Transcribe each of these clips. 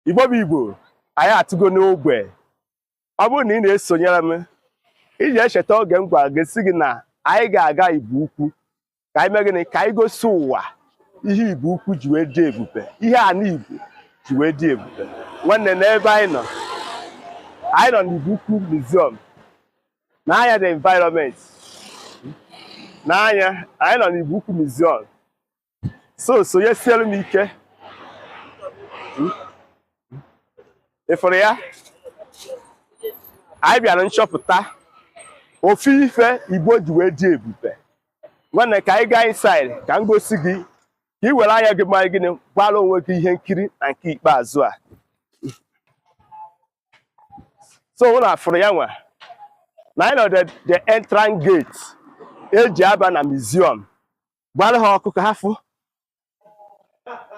igbo bụ igbo anyị atụgo n'ogbe ọ bụrụ na ị na-esonyere m ị ga-echeta oge m gwara gị sị gị na anyị ga-aga igbo ukwu ka anyị mee gịnị ka anyị gosi ụwa ihe igbo ukwu ji wee dị ebube ihe ana igbo ji wee dị ebube nwanne nee ebe anyị nọ anyị nọ n'igbo ukwu museum nee anya the environment nee anya anyị nọ n'igbo ukwu museum so sonyesiere m ike ị fụrụ ya anyị bịara nchọpụta ofu ife igbo ji wee dị ebube nwanne ka anyị gaa inside ka m gosi gị ka ị were anya gị mere gịnị gbara onwe gị ihe nkiri na nke ikpeazụ a so ụnụ afụrụ ya nwa na anyị nọ the the entrance gate e ji aba na museum gbara ha ọkụ ka ha fụ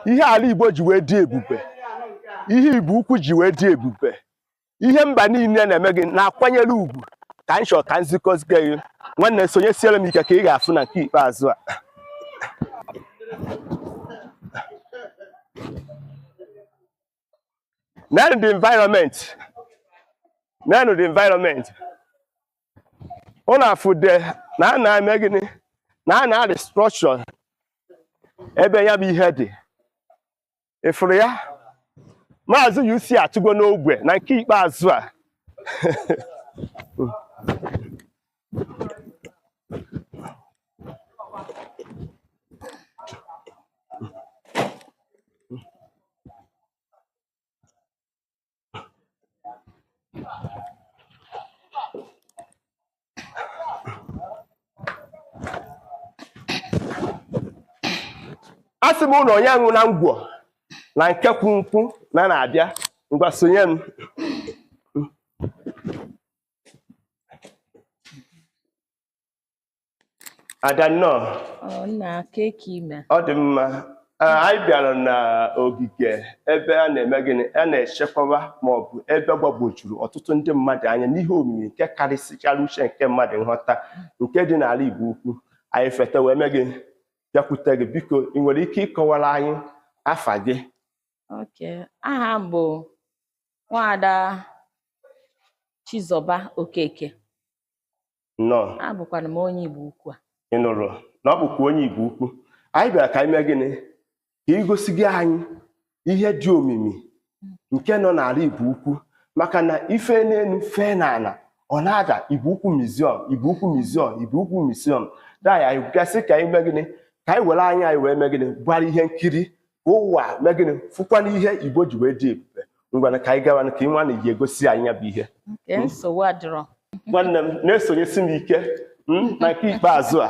ihe ala Igbo ji wee dị ebube ihe Igbo ukwu ji wee dị ebube ihe mba niile na-eme gịnị na-akwanyere ugwu ka m chọrọ ka m zikọzie gị nwanne sonyesiere m ike ka ị ga-afụ na nke ikpeazụ a Neenụ the environment. Neenụ the environment. Ụnụ afụ na a na-eme gịnị. Neenụ the structure. Ebe ya bụ ihe dị. Ị fụrụ ya? Maazị UC atụgo n'ogbe na nke ikpeazụ a. asị m ụnụ onye aṅụna ngwọ na nke kwu nkwụ na na-abịa ngwa sonye m ada nnọọ Ọ nna kee ka ị mere. ọ dị mma Ee, anyị bịara n'ogige ebe a na-eme gịnị a na-echekwaba ma ọ bụ ebe gbagwojuru ọtụtụ ndị mmadụ anya n'ihe omimi nke karịsịchara uche nke mmadụ nghọta nke dị n'ala Igbo ukwu anyị feta wee mee gịnị bịakwute gị biko ị nwere ike ịkọwara anyị afa gị Okay. Aha m bụ nwaada Chizọba Okeke nnọọ abụkwara m onye Igbo ukwu a ị nụrụ na ọ bụkwa onye Igbo ukwu anyị bịara ka anyị mee gịnị ka i gosiga anyị ihe dị omimi nke nọ n'ala Igbo ukwu maka na i fee n'elu fee n'ala ọ na-ada Igbo ukwu museum Igbo ukwu museum Igbo ukwu museum taa anyị bịa sị ka anyị mee gịnị ka anyị were anya anyị wee mee gịnị gbara ihe nkiri ka ụwa mee gịnị fụkwana ihe igbo ji wee dị ebube ngwana ka anyị gawa ka ị nwa na ji egosi anyị ya bụ ihe nke nsogbu adịrọ nwanne m na-esonyesi m ike mm, na nke ikpeazụ a